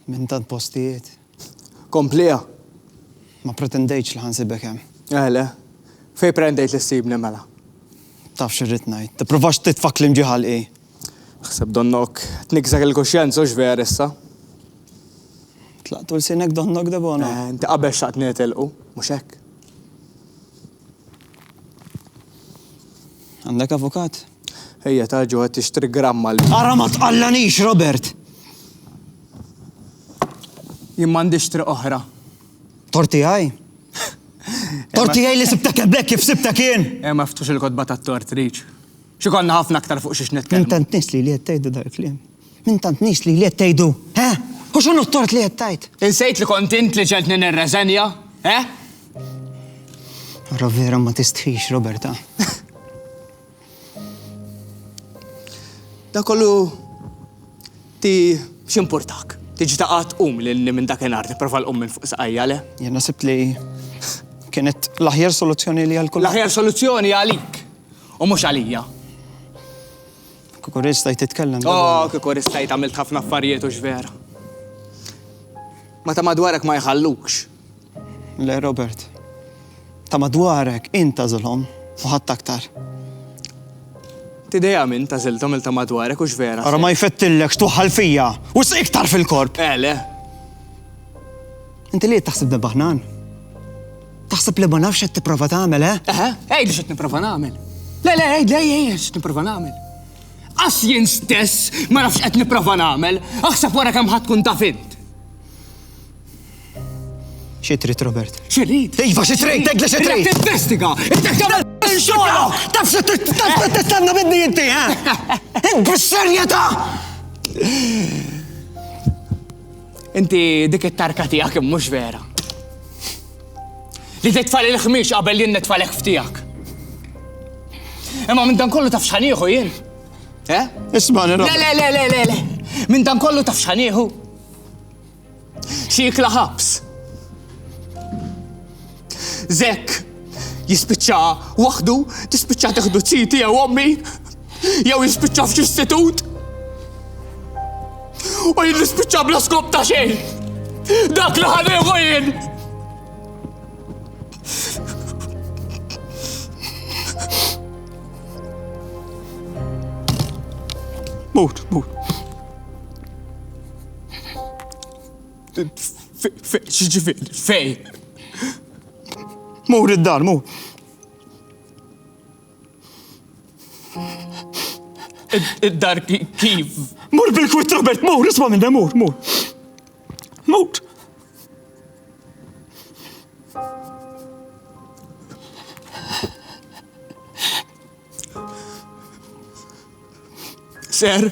Minn tant postijiet. Kompliha! Ma ppretendejtx li ħa nsibek hemm. Eh le. Fejn prendejt li ssibni mela? Taf x'irrid ngħid. Tipprovax titfa' kliem ġie ħalqi. Aħseb donnok tniksek il-kuxjenza hux veer issa? Tlaqtu lsienek donnok Debona? Eh, inti qabel xtaqtni nitilqu, mhux hekk? Għandek avukat? Ejja, ta' ġo qed tixtri gramma l. Ara ma tqallanix, Robert! Jien m'għandix triq oħra. Tort tiegħi? Tort tiegħi li sibtek eblek kif sibtek jien! Eh, ma ftux il-kotba tat-tort, Riċ. Xi konna ħafna aktar fuq xiex nitkellmu. Intant nies li li qed tgħidli dal-kliem. Minn tant nies lili qed tgħidu, eh? U x'inhu t-tort li qed tgħid? Insejt li kont int li ġegħeltni nirreżenja, eh? Ara vera ma tistħix, Roberta. Da kollu ti x'importak. Tiġi ta' qatt qum li minn dakinhar tipprova l-qum minn fuq saqajja le. Jien naħseb li kienet l-aħjar soluzzjoni li għal kull. L-aħjar soluzzjoni għalik u mhux għalija. Kieku ristajt titkellem. Oh, kieku ristajt għamilt ħafna affarijiet u x'vera. Ma ta' madwarek ma jħallukx. Le, Robert. Ta' madwarek inta zulhom u ħadd aktar. Tideja minn ta' ziltom il-ta' madwarek u x'vera. Ara ma jfettillek xtuħal fija u iktar fil-korp. Ele. Eh, Inti li taħsib debaħnan? Taħseb li ma nafx qed tipprova tagħmel, eh? Eħe, għidli x'qed nipprova nagħmel. Le, le, għidli ejja x'qed nipprova nagħmel. Għax jien stess ma nafx qed nipprova nagħmel, aħseb wara kemm ħadd tkun taf int. Xi trid, Robert? Xi trid? Iva, xi trid, tgħidli xi trid. Tinvestiga, xogħol! Taf xi tistanna minni inti, eh? Int bis-serjetà! Inti dik it-tarka tiegħek mhux vera. Li titfa' lil ħmiex qabel li nitfa' l-ekf tiegħek. Imma minn dan kollu taf x'ħanieħu jien? Eh? Isma' Le le le le le le. Minn dan kollu taf x'ħanieħu? Xi jikla ħabs. Zek jispiċċa waħdu, tispiċċa teħdu ċiti jew ommi, jew jispiċċa f'xi istitut. U jien nispiċċa bla skop ta' xejn. Dak li ħaneħu jien. Mut, mut. X'ġifieri fejn? Mur id-dar, mur. Id-dar kif? Mur bil-kwitt Robert, mur, isma' minni, mur, mur. Mur. Ser.